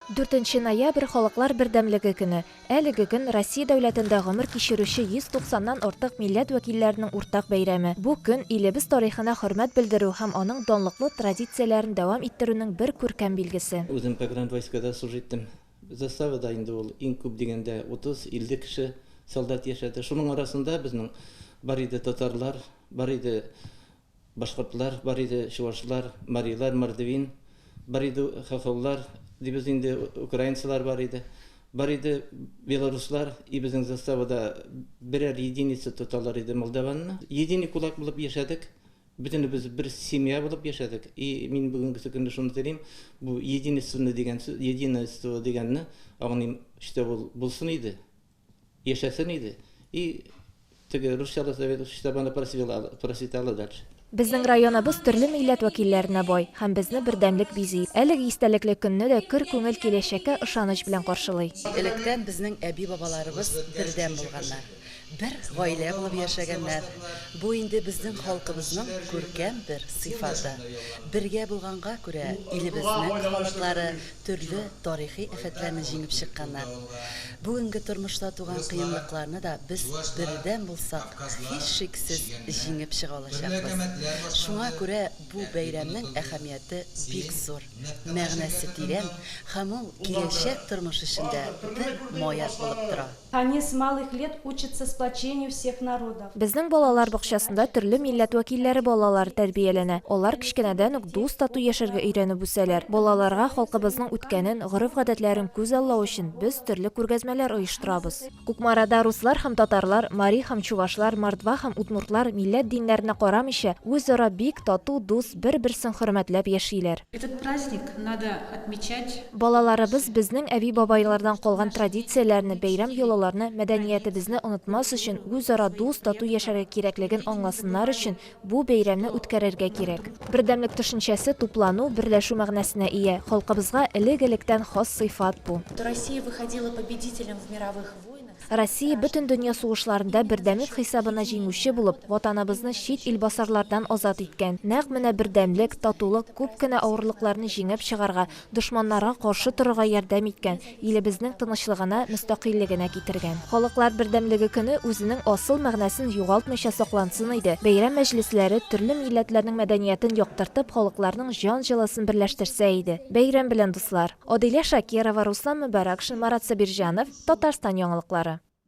Дүртенче ноябрь, Халыклар бердәмлеге көне. Әлеге көн, Россия дәүләтендә гомер кичерүче 190 нан артык милләт вәкилләренең уртак бәйрәме. Бу көн, илебез тарихына хөрмәт белдерү һәм аның данлыклы традицияләрен дәвам иттерүнең бер күркәм билгесе. Үзем погранвойскада служить иттем. Заставада инде ул иң күп дигәндә 30-50 кеше солдат яшәде. Шуның арасында безнең бар иде татарлар, бар иде Башкортлар бар иде, чувашлар, марилар, мордвин, бар иде хохоллар, дибез инде, украинцылар бар иде, бар иде белоруслар, и безнең заставада берәр единица тоталар иде молдаванны. Единый кулак булып яшәдек, бөтенебез бер семья булып яшәдек, и мин бүгенгесе көнне шуны телим, бу единественный дигән сүз, единайство дигәнне аңлыйм, штә ул булсын иде. Яшәсен иде. И теге русчада советов чиста бана просветала дальше. Безнең районыбыз төрле милләт вәкилләренә бай һәм безне бердәмлек бизи. Әлеге истәлекле көнне дә көр күңел киләчәккә ышаныч белән каршылый. Электән безнең әби-бабаларыбыз бердәм булганнар, бер гаилә булып яшәгәннәр. Бу инде безнең халкыбызның күркәм бер сыйфаты. Бергә булганга күрә, илебезнең халыклары төрле тарихи афәтләрне җиңеп чыкканнар. Бүгенге тормышта туган кыенлыкларны да без бердәм булсак, һичшиксез җиңеп чыга алачакбыз. Шуңа күрә бу бәйрәмнең әһәмияте бик зур, мәгънәсе тирән һәм ул киләчәк тормыш өчен дә бер маяк булып тора. Они с малых лет учатся сплочению всех народов. Безнең балалар бакчасында төрле милләт вәкилләре балалары тәрбияләнә. Алар кечкенәдән үк дус-тату яшәргә өйрәнеп үсәләр. Балаларга халкыбызның үткәнен, гореф-гадәтләрен күз аллау өчен без төрле күргәзмәләр оештырабыз. Кукмарада руслар һәм татарлар, мари һәм чувашлар, мордва һәм удмуртлар милләт-диннәренә карамыйча, үзара бик тату, дус, бер-берсен хөрмәтләп яшиләр. Этот праздник надо отмечать. Балаларыбыз безнең әби-бабайлардан калган традицияләрне, бәйрәм-йолаларны, мәдәниятебезне онытмас өчен, үзара дус, тату яшәргә кирәклеген аңласыннар өчен бу бәйрәмне үткәрергә кирәк. Бердәмлек төшенчәсе туплану, берләшү мәгънәсенә ия, халкыбызга элек-электән хас сыйфат бу. Россия выходила победителем в мировых войнах. Россия Бөтендөнья сугышларында бердәмлек хисабына җиңүче булып, Ватаныбызны чит ил басарлардан азат иткән. Нәкъ менә бердәмлек, татулык күп кенә авырлыкларны җиңеп чыгарга, дошманнарга каршы торырга ярдәм иткән, илебезнең тынычлыгына, мөстәкыйльлегенә китергән. Халыклар бердәмлеге көне үзенең асыл мәгънәсен югалтмыйча саклансын иде, бәйрәм мәҗлесләре төрле милләтләрнең мәдәниятен яктыртып, халыкларның җан җылысын берләштерсә иде. Бәйрәм белән, дуслар! Адилә Шакирова, Руслан Мөбарәкшин, Марат Сабирҗанов, Татарстан яңалыклары.